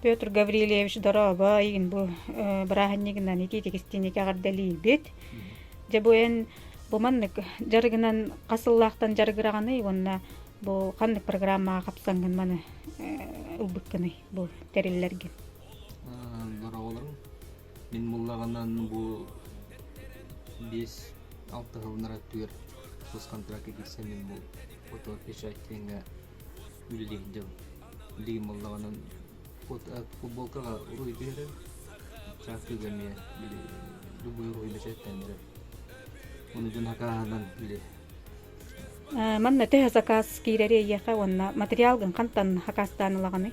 Петр Гаврильевич дорообо игин бу бырааһынньыгынан итиитикистиини кэҕэрдэлиирбит дьэ бу эн бу маннык дьарыгынан хасыллаахтан дьарыгыраҕыный уонна бу ханнык программаҕа хапсаҥгын маны ылбыккыный бу тэриллэргин дорооболорум Мин буллаҕынан бу биэс алтыһыллара түөр тус контракка киирсэн мин бу оту печать диэҥҥэ үлэлиһиндэм. Билигин буллаҕынан от футболкаҕа уруй биэрэр, чааккыга эмиэ били любую уруй бэчээттэннэрэр. Ону дьон хакааһынан били Манна төһө заказ киирэри эйиэхэ уонна материал гын хантан хакаастаан ылаҕыный?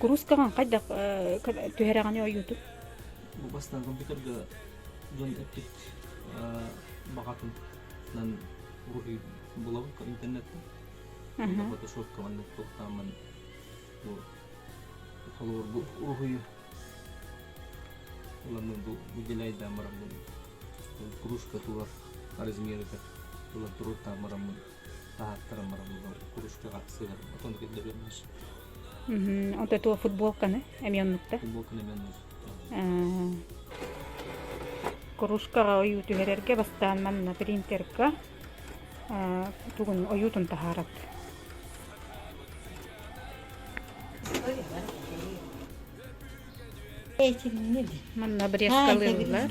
Куруускаҕын хайдах түһэрэҕини ойуутун? Бу бастааҥы бүтэргэ дьон эппит баҕатынан булабын интернеттан. Фотошопкаҕын туохтааммын бу холобур бу уруһуйу ыланным бу выделяйдаан бараммын кружка турар размерыгар ылан туруортаан бараммын тааттарым бараллар кружкаҕа сыһарбыт онно киллэрэммит вот этого футболканы эми оннукта футболканы эми оннук кружкаҕа ойуу түһэрэргэ бастаан манна принтерга тугун ойуутун таһаарат этиннин манна брескалыыллар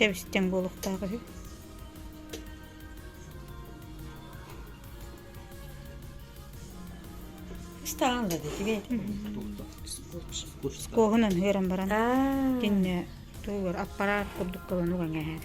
Тэбистэн буолуохтаах үһү. Ыстаан да тигэ. Куоһунан хыыран баран. Инне тугар аппарат курдук кылын уган кэһэр.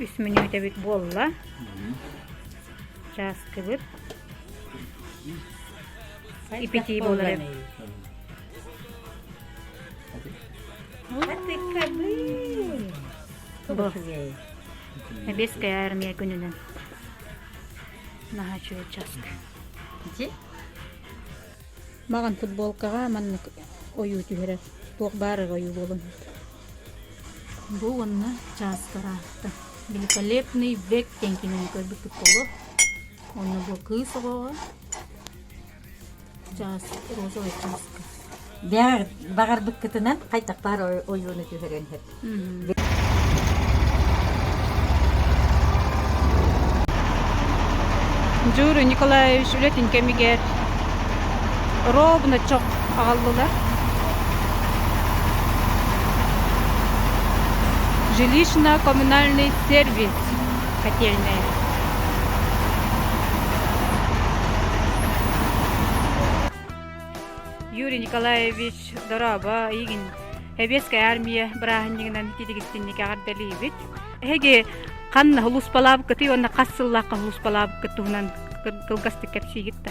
үс мүнүүтэбит буолла чааскыбыт ипитии буолар Эбиэскэй армия күнүнэн наһаа үчүгэй часка. Дьи? Маған футболкаға маннык ойуу түһэрэ. Туох баарыга ойуу буолан Бу уонна чааскара аата Великолепный век диэн кинини көрбүппүт буолуо. Уонна бу кыыс оҕоҕо чаас, розовай чааска. Бэҕэр баҕарбыккытынан хайдах баар ойууну түһэрэн иһэр. Дюра Николаевич үлэтин кэмигэр ровно аҕаллылар жилищно коммунальный сервис котельная юрий николаевич дорообо игин эбиэскэй армия бырааһынньыгынан титигиттинники аҕардалыыбыт эһиги ханна улууспалаабыккытый уонна хас сыллаахха улууспалаабыккыт туһунан кылгастык кэпсиигит да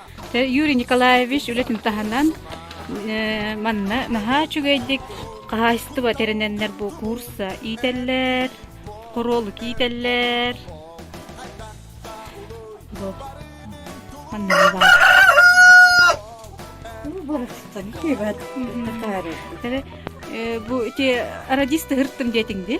Юрий Николаевич үлэтин таһынан манна наһаа үчүгэйдик хаһаайыстыба тэринэннэр бу куурса иитэллэр, хоруолук иитэллэр. Манна баар. Бу ити радисты хырттым диэтиҥ дии?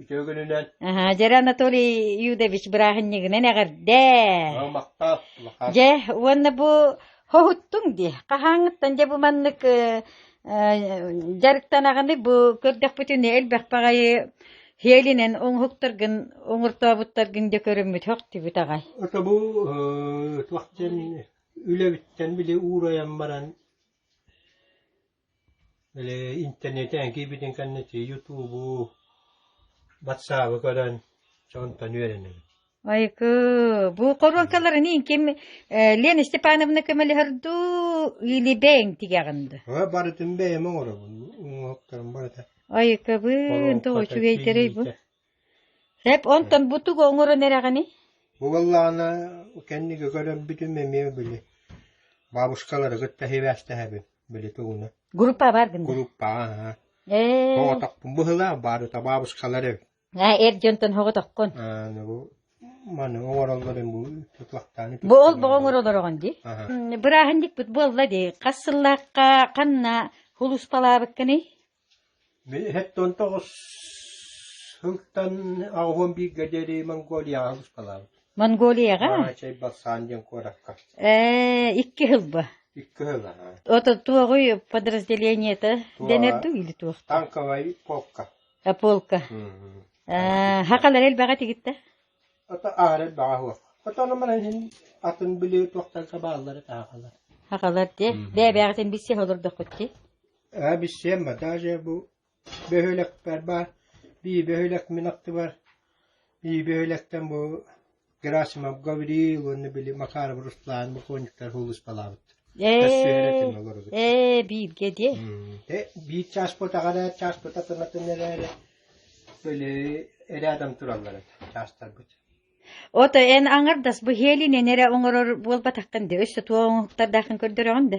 Үтүө күнүнэн. Дьэр Анатолий Юдович бырааһынньыгынан эҕэрдээ. Махтаах. Дьэ, уонна бу хоһуттуҥ дии. Хаһааҥыттан дьэ бу маннык дьарыктанаҕыны бу көрдөхпүтүн элбэх баҕайы Хиэлинен уҥуһуктаргын уҥуртообуттаргын дэ көрүммүт хохтибит аҕай. Ото бу туохтан үлэбиттэн били уурайан баран Элэ интэрнэтээн киирбитин кэннэ Ютубу, батсаабы көрөн, онтон үөрэнэбин. Айыкы, бу хоруоҥкаларыниин ким э, Лена Степановна көмөлөһөрдүү илибэҥ тигэҕин ду? Ой, барытын бэйэм оҥоробун. Оҥоһуктарым барыта. Айыкыбын, то үчүгэйдэрэй бу. Рэп онтон бу тугу оҥорон эрэҕиний Бу буоллаҕына кэнники көрөрбүтүм эмиэ били бабушкалары кытта сибээстэһэбин били тугуна Группа баар гынна группаҕа аһа Ээ соҕотохпун быһыылаах баарыта бабушкалар эбит Аа эр дьонтон соҕотоххун ааны бу маны оҥороллорун бу тутлахтааны бу ол боҕо оҥороллороҕун дии аха М, бырааһынньыкпыт буолла дии хас сыллаахха ханна сулууспалаабыккыный Сэттэ оҕус сылтан аҕыс уон бииргэ диэри Монголияҕа сыспалаабыт. Монголияҕа? Чэй Балсаан диэн куоракка. Ээ, икки сыл ба. Икки сыл аа. Ото туоҕуй подразделениета дэнэрдү или туохта? Танковай полка. А полка. Аа, хақалар элбэҕэ тигитте? Ото аар элбэҕэ хуох. Ото номеран иһин атын били туохтарга бааллары таахалар. Хақалар те, бэбэҕитин биссе олордохкутти? Ээбиссиэн Батаа Дьээбу бөһүөлэкпэр баар, бии бөһүөлэк мин аттыбар, бии бөһүөлэктэн бу Герасимов Гавриил уонна били Макаров Руслан буквонниктар суулуспалаабыт. Ээ, бииргэ диэ. Биир чаас потаҕара, чаас пота тынатын эрээри, били рядом тураллар чаастарбыт. Ото эн аңардас бу хелинен эрэ оҥорор буолбатахтан да өссө туох оҥоһуктардаахын көрдөрөҕүн да.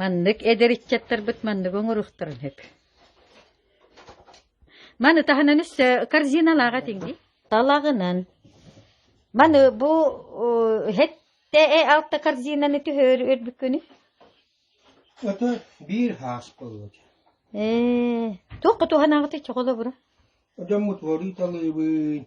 Маннык эдэр ыччаттарбыт манныгы оҥоруохтарын сөп. Маны таһынан өссө корзиналааҕа тиҥди. Талаҕынан. Маны бу һэтте э алта корзинаны түһөр үрбүккүнү? Ото биир хаас болот. Ээ, туох кутуһанааҕыты чоҕоло бура? Одаммут вориталыыбын.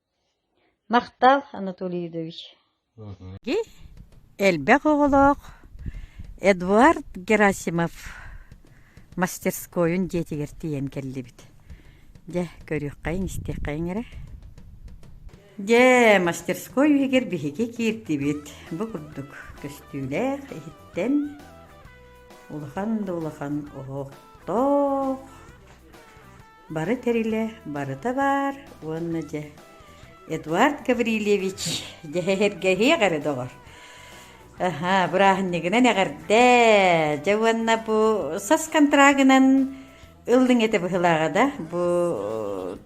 Махтал, Анатолий Юдович Элбэх оҕолоох Эдуард Герасимов мастерскойун дьиэтигэр тиийэн кэллибит Дьэ, көрүөххэйиҥ-истиэххэйиҥ эрэ Дьэ, мастерской үһүгэр биһиги киирдибит Бу курдук көстүүлээх иһиттэн улахан да улахан оһохтоох Бары тэрилэ барыта баар уонна дьэ Эдуард Гаврильевич дьэһэргэһиэх эрэ доҕор. Аха, бырааһынньыгынан эҕэрдэ. Дьэ уонна бу сас контрагынан ыллыҥ этэ быһылааҕа да бу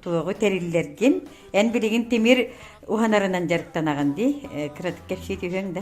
туоҕу тэриллэргин эн билигин тимир уһанарынан дьарыктанаҕын дии кыратык кэпсии түһүөҥ да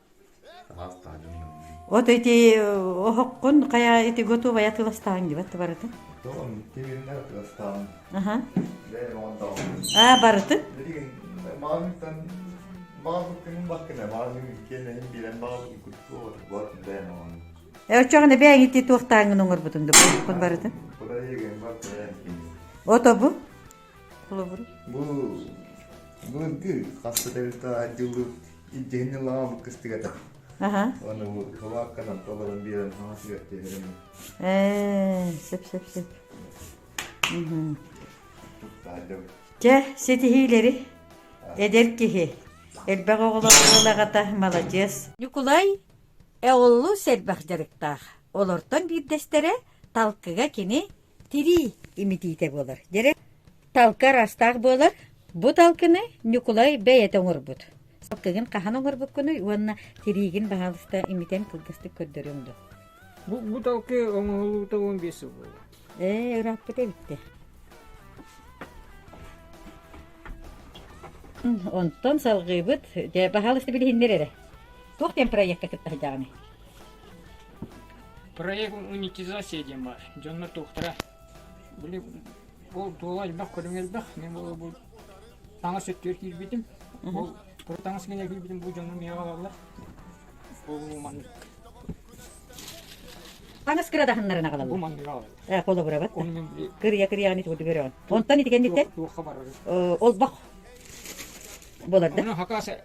От ити оһоххун хайа ити готовая атыыластааһын дебатты барыта. Аа барыты? Өчөҕүнэ бэйэҥ ити туохтааҥын оҥорбутун да бу барыты? Ото бу? Холобур. Бу былыргы хапса territorial дьыллык илдьэһинни лаамыт кыстыгата. Аха. Оны кылаакканан толорон биэрэн хаҥасыгар тиэрэрим. Ээ, сеп-сеп-сеп. Дьэ, ситиһиилэри эдэр киһи. Элбэх оҕолоох уол аҕата маладьыас. Ньукулай эоллуу сэрбэх дьарыктаах. Олортон биирдэстэрэ талкыга кини Тирии имитиитэ буолар. Дьэрэ талка араастаах буолар. Бу талкыны Ньукулай бэйэтэ оҥорбут. Талкыгын хаһан оҥорбуккунуй уонна тириигин баһаалыста имитэн кылгастык көрдөрүөҥ дуо? Бу, бу талкы оҥоһуллубута уон биэс сыл буолла. Ээ, ырааппыта эбиттэ. Онтон салҕыыбыт, баһаалыста билиһиннэр эрэ. Туох диэн проекка кытта сыдьаҕаны? Проект монетизация диэн баар. Дьоннор туохтара били ол туола элбэх көрүҥ элбэх. Мен ол бу таҥас өттүгэр киирбитим. Ол про таҥас генә киирбитим бу дьоннор миэҕэ алаллар. Бу маннык. Таҥас кырадаһыннарын агалаллар. Бу маннык агалаллар. Э, холобурабат. Оны мен били Кырия кырияны тугу көрөөн. Онтон итигенниттэн туохха барар. ол бах болар да. Оны хакаса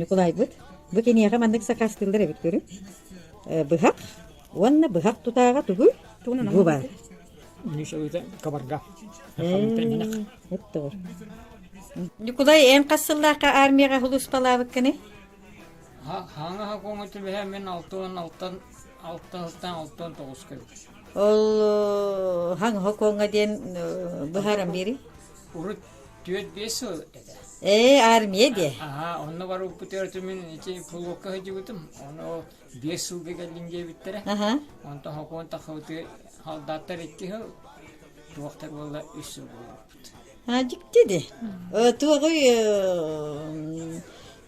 Ньукулайбыт бу киниэхэ маннык сакаастыыллар эбит көрүҥ быһах уонна быһах тутааҕа тугуй бу баар Ньукулай эн хас сыллаахха армияҕа хулууспалаабыккыный хааңаха куоҥуту бэһэ мин алты уон алтан алта сылтан алта он тоҕус кэбит ол хаҥаха куоҥа диэн быһааран биэрий урут түөрт-биэс сыл этэ. Ээ, армия диэ. Аhaa, онно барбыт өртүмүн ити флотка сылдьыбытым. Ону биэс сылга кэллин диэбиттэрэ. Аха. Онтон хокуон тахабыты халдааттар икки сыл, туохтар буолла үс сыл буолбуппут. А, дьикти ди. Туоҕуй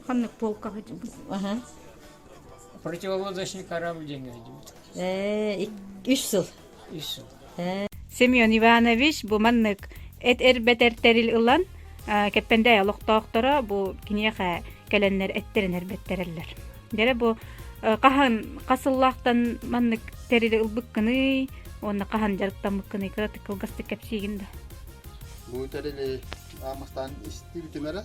ханнык полка сылдьыбыт? Аха. Противополодочный корабль дьиҥэ сылдьыбыт. Ээ, үс сыл. Семен Иванович бу маннык эт-эрбэт тэрил ылан Кэппэндэ олохтоохторо бу киниэхэ кэлэннэр эттэрин эрбэттэрэллэр. Дэрэ бу хаһан хасыллаахтан маннык тэрили ылбыккыный, уонна хаһан дьарыктаммыккыный кыратык кылгастык кэпсиигин да. Бу тэрили аамахтаан исти бүтүмэрэ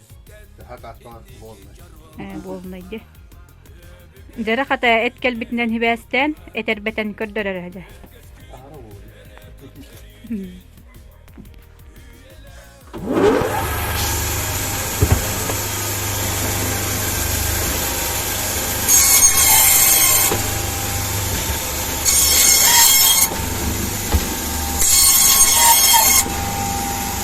Буолунай дьэ. Дьара хата эт кэлбитинэн хибээстээн, этэрбэтэн көрдөрөрө дэ.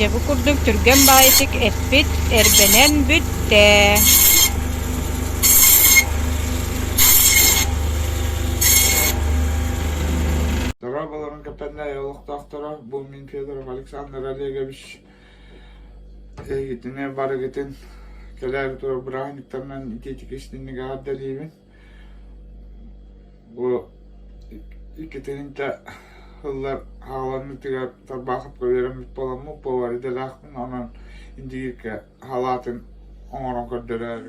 дьэ бу курдук түргэн баайытык эппит эрбэнэн бүттэ Дорооболорун кэпсэннэ олохтоохторо, бу мин Федоров Александр Олегович Эйигитинэ барыгытын кэлээри турук бырааһынньыктарынан итиитики истинник эҕэрдэлиибин. Бу иккитининтэ ыллар хааланыытыгар тарбаахапка үөрэммит буоламмут буолар идэлээхпин онон индигиргэ халаатын оҥорон көрдөрөөрү